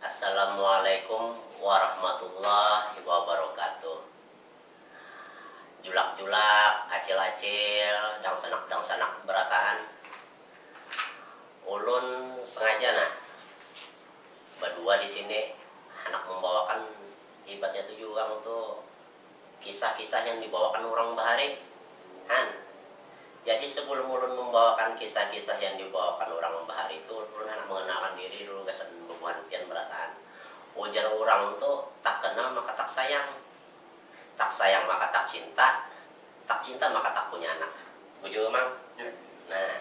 Assalamualaikum warahmatullahi wabarakatuh Julak julak, acil acil, dangsanak dangsanak berataan Ulun sengaja nah badua disini handak membawakan hibatnya tuju urang tu. kisah-kisah yang dibawakan urang bahari. Han, jadi sebelum ulun membawakan kisah-kisah yang dibawakan urang bahari tu, ulun handak mengenalkan diri dulu gasan bubuhan pian berataan. Ujar urang tu, tak kenal maka tak sayang. Tak sayang maka tak cinta, tak cinta maka tak punya anak. Bujur Mang? Nah,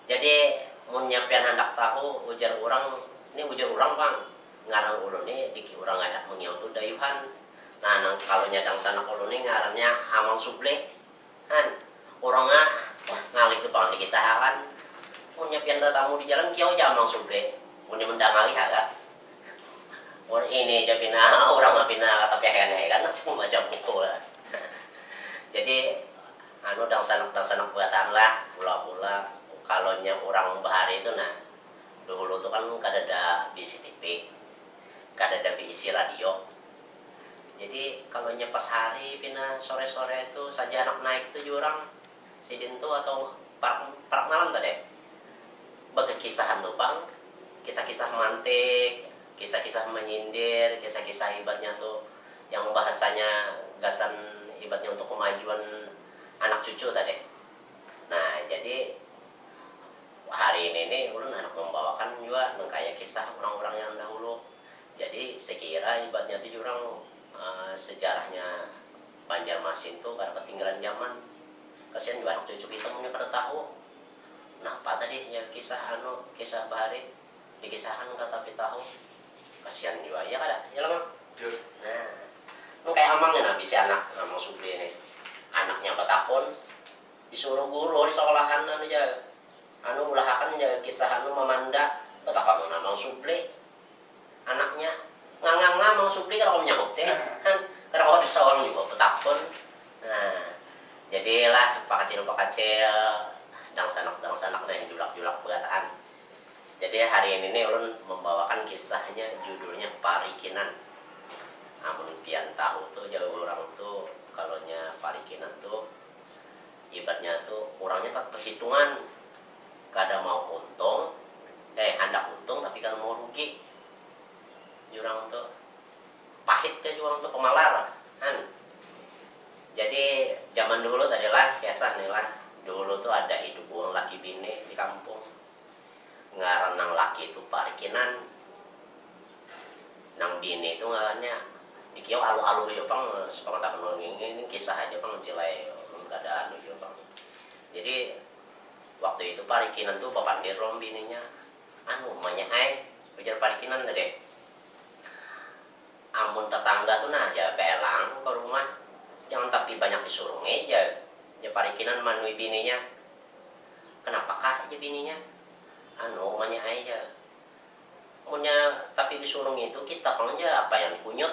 jadi munnya pian handak tahu ujar urang, ni ujar urang pang. Ngaran ulun ni diki urang ngacak munyiau tu Dayuhan. Nah nang kalunya dangsanak ulun ni ngarannya Hamam Suble. Han, urangnya wah ngalih tu pang dikisahakan. Munnya pian tatamu di jalan kiau ja Amang Suble, munnya menda ngalih ha kah. Mun ini ja pina urangnya pina katapiakan ai kan masih mambaca buku lah. Jadi anu dangsanak-dangsanak bataan lah, bula-bula kalunya urang bahari tu nah. Dahulu tu kan kadada beisi TV, kadada beisi radio. Jadi kalo inya pas hari pina sore-sore tu saja handak naik tu jua urang sidin tu atau parak parak malam tadi bakakisahan tu pang. Kisah-kisah mantik, kisah-kisah manyindir, kisah-kisah ibaratnya tu yang bahasanya gasan ibaratnya untuk kemajuan anak cucu tadi. Nah jadi. Hari ini ni ulun handak mambawakan jua nang kaya kisah urang-urang yang dahulu. Jadi sekira ibatnya tu jurang sejarahnya Banjarmasin tu kada ketinggalan zaman. Kasian jua anak cucu kita munnya kada tahu. Napa tadi nya kisah anu kisah bahari dikisahakan ka tapi tahu. Kasian jua iya kada iya lah Mang? Nah, nang kaya Amang ni nah bisi anak Amang Subli ni. Anaknya batakun, Disuruh guru di sekolahan anu ja anu ulahakan ja kisah anu mamanda. Betapa mana Mang Subli. Anaknya, nganganga Mang Subli kada kawa manyahut te. Han, kada kawa disawang jua betakun. Nah, jadi lah pakacil-pakacil dangsanak-dangsanak nang injulak-julak bagataan. Jadi hari ini nih ulun membawakan kisahnya judulnya Parikinan. Amun pian tahu tu jar urang tu kalonya parikinan tu. Ibatnya tu urangnya kada perhitungan, kada mau untung, eh handak untung tapi kada mau rugi jar urang tu. Pahit kah jar urang tu pemalar han. Jadi zaman dulu tadi lah kisah ni lah, dulu tu ada hidup urang laki bini di kampung. Ngaran nang laki tu Parikinan. Nang bini tu ngarannya dikiyau Aluh-Aluh jua pang, sapangatahuan ulun ini ini kisah haja pang cilai ulun kada anu jua pang. Jadi waktu itu Parikinan tu bapandir lawan bininya, anu manya ai ujar Parikinan tadi, amun tatangga tu nah jar Pelang ka rumah jangan tapi banyak disurungi jar, jar Parikinan manui bininya. Kenapa ka jar bininya. Anu umanya ai jar munnya tapi disuruh ngitu kita pang ja apa yang dikunyut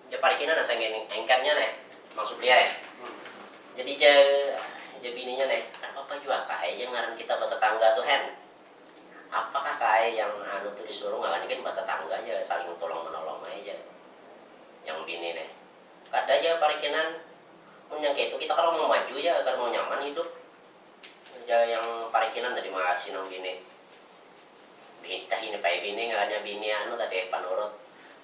jar parikinan asa ngini engkernya neh mang supriya eh. Jadi jar jar bininya neh kadapapa jua ka ai jar ngaran kita batetangga tu hen. Apa kah ka ai yang anu tu disuruh ngalan gin batetangga ja saling tulung menolong ai jar yang bini neh. Kada jar parikinan munnya kaitu kita kada mau maju ja kada mau nyaman hidup. Jar yang parikinan tadi mangasi nang bini. Bini tahi ni payah bini ngarannya bini anu tadi eh panurut.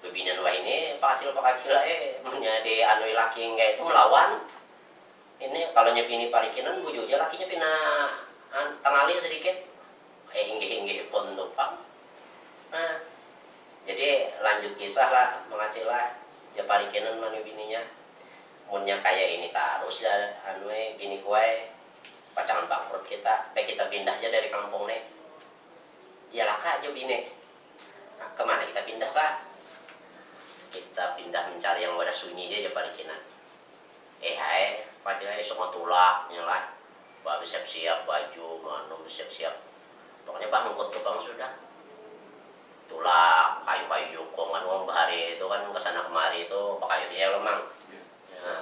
Bebinian wahini pakacil pakacil ae munnya di anui laki yang kaya tu melawan. Ini kalo nya bini parikinan bujur ja lakinya pina an tengali sedikit eh inggih inggih pun tu pang. Nah jadi lanjut kisah lah mangacil lah jar parikinan mani bininya. Munnya kaya ini tarus ja anu ai biniku ai pacangan bangkrut kita, baik kita pindah ja dari kampung nih. Iyalah ka ujar bini, nah kemana kita pindah ka? Kita pindah mencari yang wadah sunyi ja ujar parikinan. Eh ai pacul ai isuk ma tulak nya lah, ba besiap siap baju ma anu besiap siap pokoknya ba hengkut tu pang sudah. Tulak, kayu-kayu jukung kan wong bahari tu kan kesana kemari tu bakayu saja lo mang,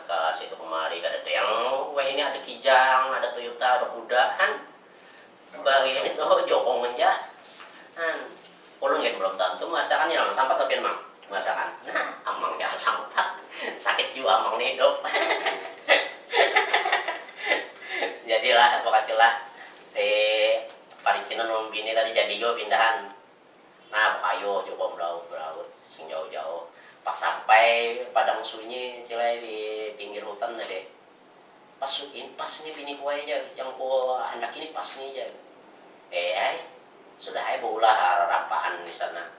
ke situ kemari kada ada yang wahini ada kijang, ada toyota, ada kuda han, begitu jukung haja han, ulun gin belum tantu merasakan nya, sampat lah pian mang merasakan, nah amang jangan sampat sakit jua amang ni hidup jadi lah bakacilah si parikinan wan bini tadi jadi jua pindahan. Nah, bakayuh ja buah melaut melaut sing jauh jauh. Pas sampai padang sunyi cil ai di pinggir hutan tadi. Pas ini pas nih biniku ai jar, yang ku handaki nih pas nih jar. Eh ai, sudah ai baulah rarampaan di sana.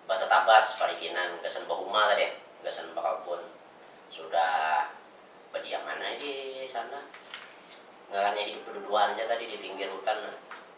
Batatabas parikinan gasan bahuma tadi, gasan bakabun. Sudah badiaman ai di sana. Ngarannya hidup baduduaan ja tadi di pinggir hutan.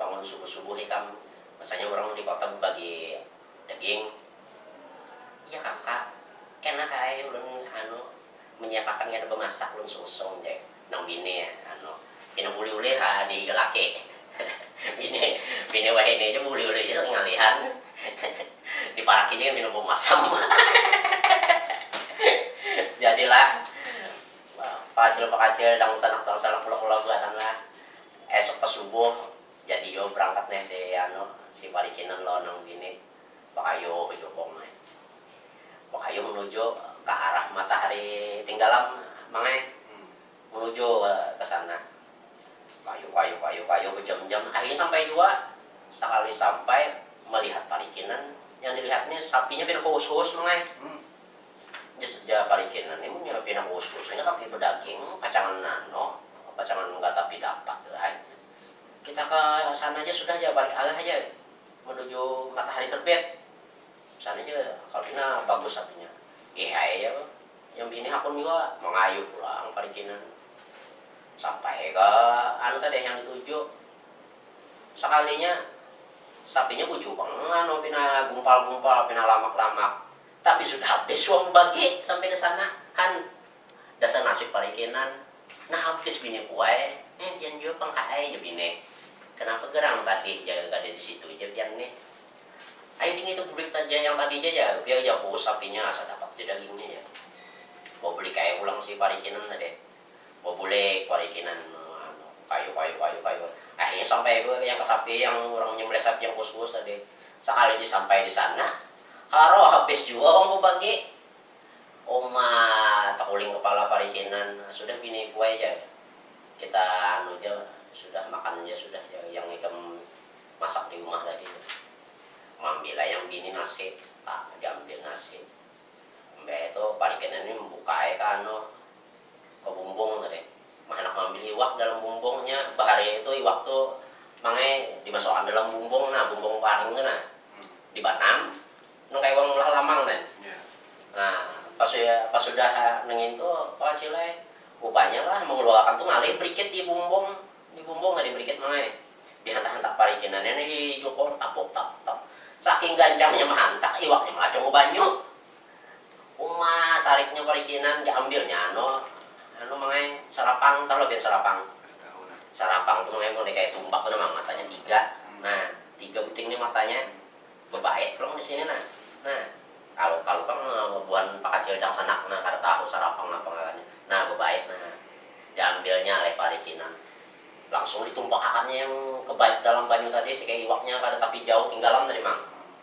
Bangun subuh-subuh ikam, masanya urang mun di kota bebagi daging. Iya kam ka, kena ka ai ulun anu menyiapakan kada bemasak ulun sungsung jar nang bini anu, pina beulih-ulih ha di higa laki. Bini bini wahini ja beulih-ulih ja saking ngalihan, diparaki ja gin pina bemasam. Jadilah pakacil-pakacil dangsanak-dangsanak kula-kula buatan lah. Esok pas subuh jadi jua berangkat ne si anu si palikinan lawan nang bini bakayuh bajukung ai. Bakayuh menuju ka arah matahari tinggalam Mang ai. Menuju ka sana. Kayuh kayuh kayuh kayuh bejam-jam akhirnya sampai jua. Sakali sampai melihat palikinan yang dilihat ni sapinya pina kuhus-kuhus Mang ai. Jar palikinan ni munnya pina kuus-kuus ni tatapi badaging pacangan nano, pacangan nggak tapi dapat tu ai. Kita ka sana ja sudah ja, balik arah ja manuju matahari terbit. Sana ja kalu pina bagus apinya. Ih ai jar yang bini hakun jua, mangayuh pulang palikinan. Sampai ka anu tadi yang dituju. Sakalinya sapinya bujur pang anu pina gumpal-gumpal, pina lamak-lamak. Tapi sudah habis uang bebagi sampai di sana, han. Dasar nasib parikinan. Nah habis bini ku ai. Nih pian jua pang ka ai, jar bini. Kenapa gerang tadih ja kada di situ ja pian nih. Ai ding itu bulik ja yang tadi ja jar, biar ja ku usap inya asal dapat ja dagingnya jar. Babulik ai pulang si parikinan tadi. Babulik parikinan kayu kayu kayu kayu. Akhirnya sampai jua inya ka sapi yang urang nyembelih sapi yang kurus kurus tadi. Sakali di sampai di sana. Haro habis jua wang bubagi. Uma takuling kapala parikinan, sudah bini ku ai jar, kita anu ja sudah makan ja sudah jar yang ikam masak di rumah tadi jar. Maambil ai yang bini nasi, tah diambil nasi. Imbah itu parikinan ni membuka ai ka anu. ke bumbung tadi mahandak maambil iwak dalam bumbungnya bahari itu iwak tu mangai dimasuakan dalam bumbung nah bumbung paring tu nah dibanam nang kaya urang maulah lamang nih nah pas pas sudah nangintu pala cilai rupanya lah mangaluarakan tu ngalih brikit di bumbung di bumbung tadi brikit mangai dihantak hantak parikinannya nih di jukung tapuk tapuk tapuk saking gancangnya mahantak iwaknya malacung ke banyu. Uma sariknya parikinan diambilnya anu anu mangai sarapang tahu lah biar sarapang sarapang tu mangai model kaya tumbak tu nah matanya tiga nah tiga buting ni matanya babait pulang di sini nah nah kalu kalu pang buhan pakacil dangsanak nah kada tahu sarapang napa ngarannya nah babait nah diambilnya alai parikinan langsung ditumpakakannya yang kebaik dalam banyu tadi sekaya iwaknya kada tapi jauh tinggalan tadi mang.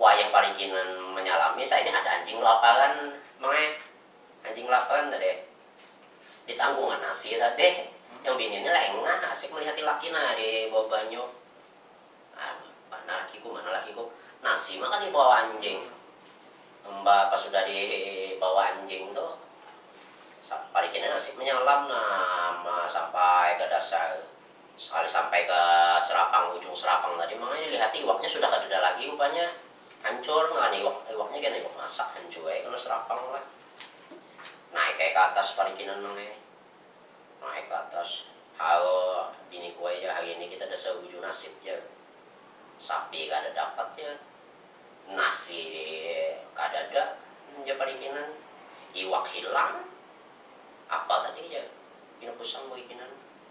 Wayah parikinan manyalami saini ada anjing kelaparan maeh. Anjing kelaparan tadi ditanggungan nasi tadi. Yang bini ni lengah asik malihati laki nah di bawah banyu. Haa mana lakiku mana lakiku. Nasi maka di bawa anjing. Imbah pas sudah di bawa anjing tu parikinan asik manyalam nah sampai ka dasar. Sekali sampai ke serapang, ujung serapang tadi manganya dilihatii iwaknya sudah kadada lagi rupanya. Hancur ngaran iwak, iwaknya kena iwak masak hancu ai kena serapang tu lah. Naik ai ke atas parikinan mangnya ai. Naik ke atas, hal biniku ai jar hari ini kita kada seuju nasib jar. Sapi kada dapat jar, nasi kadada jar parikinan, iwak hilang, apa tadi jar pina pusang parikinan.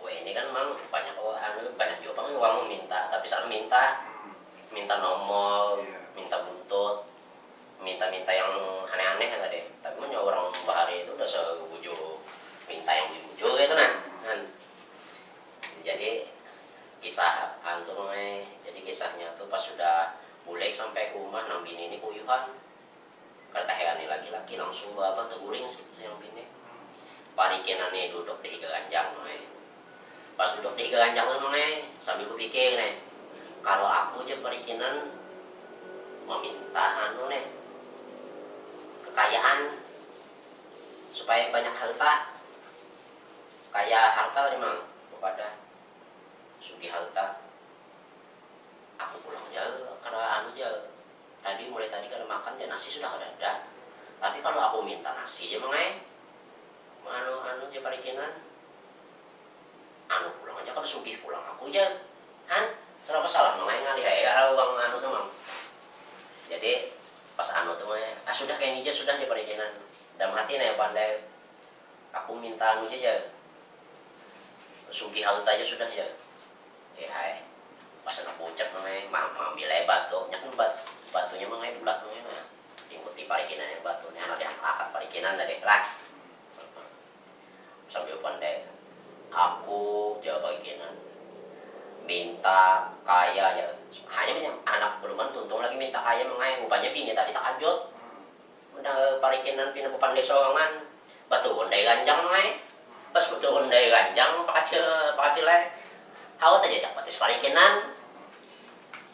Wah ini kan mang banyak anu banyak jua pang urang meminta tapi salah minta, minta nongol, minta buntut, minta minta yang aneh aneh kata deh, tapi munnya urang bahari itu udah sebujur minta yang jujur kaitu nah kan, jadi kisah antum ai jadi kisahnya tu pas sudah bulik sampai ke rumah nang bini ni kuyuhan. Kada taheran ni laki-laki nang sumba abah teguring situ tu yang bini. Parikinan ni duduk di higa ranjang tu ne. Pas duduk di higa ranjang tu ne sambil bepikir ne, kalo aku ja parikinan meminta anu ne kekayaan supaya banyak harta. Kaya harta tadi mang bepadah sugih harta. Aku pulang ja kada anu ja. Tadi mulai tadi kada makan ja nasi sudah kadada. Tapi kalu aku minta nasi ja mangaya manu anu ja parikinan. Anu pulang aja kada sugih pulang aku ja han serba salah mangaya ngalih ai ha uang anu tu mam. Jadi pas anu tu mangaya ah sudah kaya ni ja sudah ja parikinan. Dalam hati naya pandai aku minta anu ja ja sugih haut aja sudah ja. Ehae, masa nang bucak nang ai, ma, maambil ai batu, nya kan bat, batunya mang ai bulat mang ai nah, diikuti parikinan nya batu, nya handak dihantahakan parikinan tadi, lah. Sambil pandai, aku, jar parikinan, minta kaya, jar, hanyar nya handak baduman tuntung lagi minta kaya mang ai, rupanya bini tadi takajut. Pina parikinan pina bapandai sorangan. Baturun dari ranjang nang ai. Pas baturun dari ranjang pakacil pakacil ai. Hawa tajajak batis parikinan.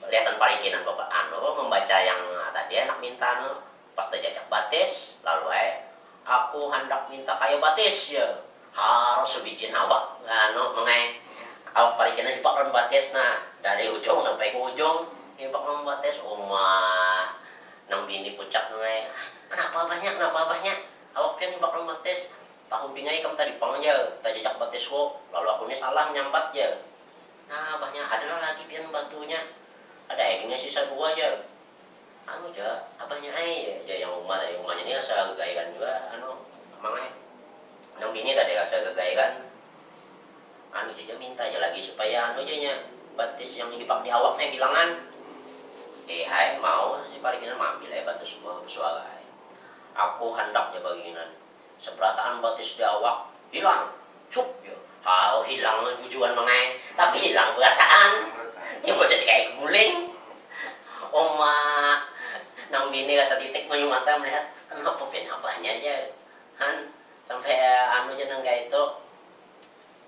Lihatan parikinan bapa anu mambaca yang tadi ai anak minta anu. Pas tajajak batis, lalu ai, Aku handak minta kaya batis jar. Harus sabijin awak anu mangai. Awak parikinan ipak lawan batis nah. Dari hujung sampai ka hujung ipak lawan batis. Uma. Nang bini pucak nang ai, Kanapa abahnya, kanapa abahnya? Awak pian imbak nang batis. Tahu pina ikam tadi pang jar tajajak batisku, lalu aku ni salah manyambat jar. Nah abahnya, adalah lagi pian batunya. Ada ai gini sisa dua jar. Anu ja abahnya ai, jar yang uma tadi. Umanya ni rasa gagairan jua anu Amang ai. Nang bini tadi rasa gagairan. Anu ja nya minta ja lagi supaya anu ja nya batis yang hibak di awak nya hilangan. Lihai mau nah si parikinan maambil ai batis semua basual ai. Aku handak ja baginginan. Seberataan batis di awak hilang cup jar. Hau hilang tu bujuan pang ai, tapi hilang berataan. Timbul jadi kaya guling. Uma nang bini rasa titik banyu mata melihat, kenapa pian abahnya jar. Han sampai anu ja nang kaya itu.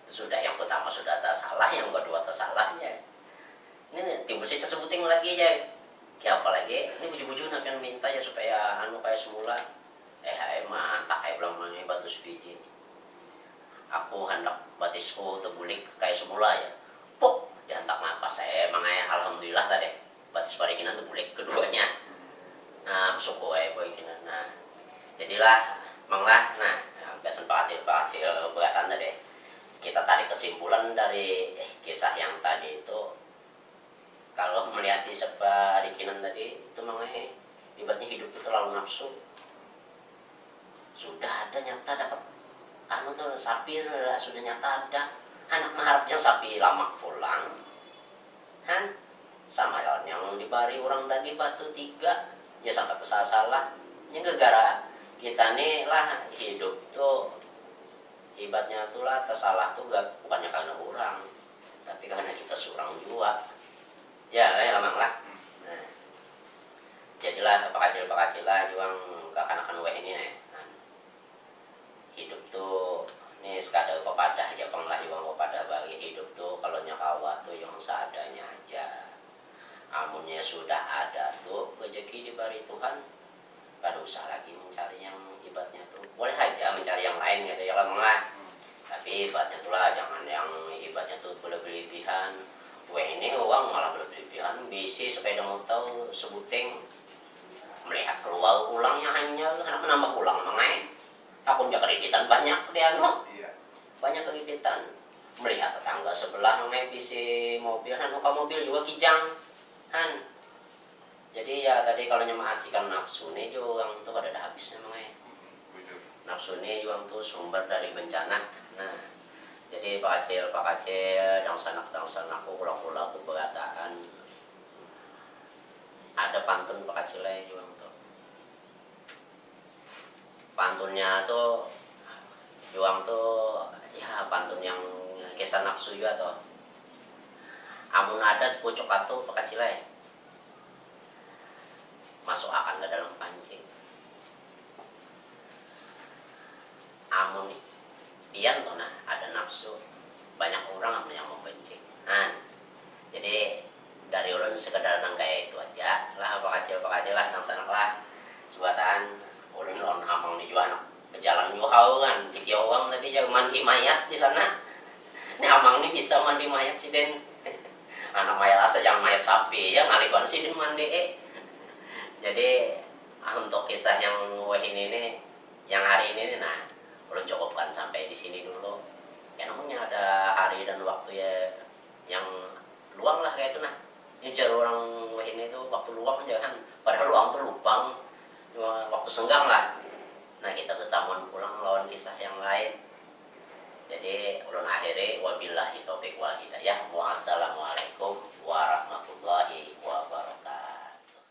Sudah yang pertama sudah tasalah yang kedua tasalah ja ini timbul sisa sebuting lagi ja kaya apa lagi ini bujur-bujur nah pian minta ja supaya anu kaya semula eh ai mantak ai pulang mangini batu sebiji ni aku handak batisku tebulik kaya semula ja puk dihantak napas ai mangaya alhamdulillah tadeh. Batis parikinan tu bulik keduanya nah besuku ai parikinan nah jadilah mang lah nah gasan pakacil pakacil berataan tadi kita tarik kesimpulan dari kisah yang tadi tu kalo melihati separikinan tadi tu mang ai ibaratnya hidup tu terlalu nafsu sudah ada nyata dapat anu tu sapi sudah nyata ada handak meharap yang sapi lamak pulang. Han, sama lawan yang nang dibari urang tadi batu tiga, jar Saka tasala-sala. Nya gegara kita ni lah hidup tu hibatnya tu lah tasalah tu gak bukannya karena urang, tapi karena kita surang jua. Ya lah ya Lamang lah. Nah, jadilah pakacil-pakacil lah juang kakanakan wehini nah Han. Hidup tu ni sekadar bepadah ja pang lah iwang bepadah bari hidup tu kalo nya kawa tu yang seadanya aja amun nya sudah ada tu rejeki dibari tuhan kada usah lagi mencari yang ibat nya tu boleh haja mencari yang lain ngetu ya pang lah tapi ibat nya tu lah jangan yang ibat nya tu belebelebihan weh ini uang malah belebelebihan bisi sepeda motor sebuting. Melihat keluar pulang nya hanyar handak menambah pulang pang ai, hakun ja kreditan banyak di anu, banyak kreditan. Melihat tetangga sebelah pang ai bisi mobil han, nukar mobil jua kijang han. Jadi ya tadi kalo nya measihkan nafsu ni jua urang tu kadada habis nya pang ai. Nafsu ni jua tu sumber dari bencana nah. Jadi pakacil pakacil, dangsanak dangsanak ku, kula kula ku berataan. Ada pantun bakacilai jua ngitu. Pantunnya tu juang tu ya pantun yang kisah nafsu jua tu. Amun ada sepucuk katu bakacilai, masuk akan ka dalam pancing. Amun pian tu nah ada nafsu, banyak urang amun yang membencing. Nah, jadi. Dari ulun sekadar nang kaya itu haja lah bakacil bakacil lah nang sanak lah jumatan ulun lawan amang ni jua handak bejalan jua haw kan dikiyau pang tapi jar mandi mayat disana ni amang ni bisa mandi mayat sidin handak mayat asa jangan mayat sapi ja ngalih banar sidin mandi i jadi untuk kisah yang wahini ni yang hari ini ni nah ulun cukupkan sampai disini dulu kena munnya ada hari dan waktu ya. Yang luang lah kaya itu nah. Nya jar urang wahini tu waktu luang ja kan. Padahal luang tu lubang. Cuma waktu senggang lah. Nah kita betamuan pulang lawan kisah yang lain. Jadi ulun akhiri wabillahi taufiq wal hidayah. Muassalamualaikum warahmatullahi wabarakatuh.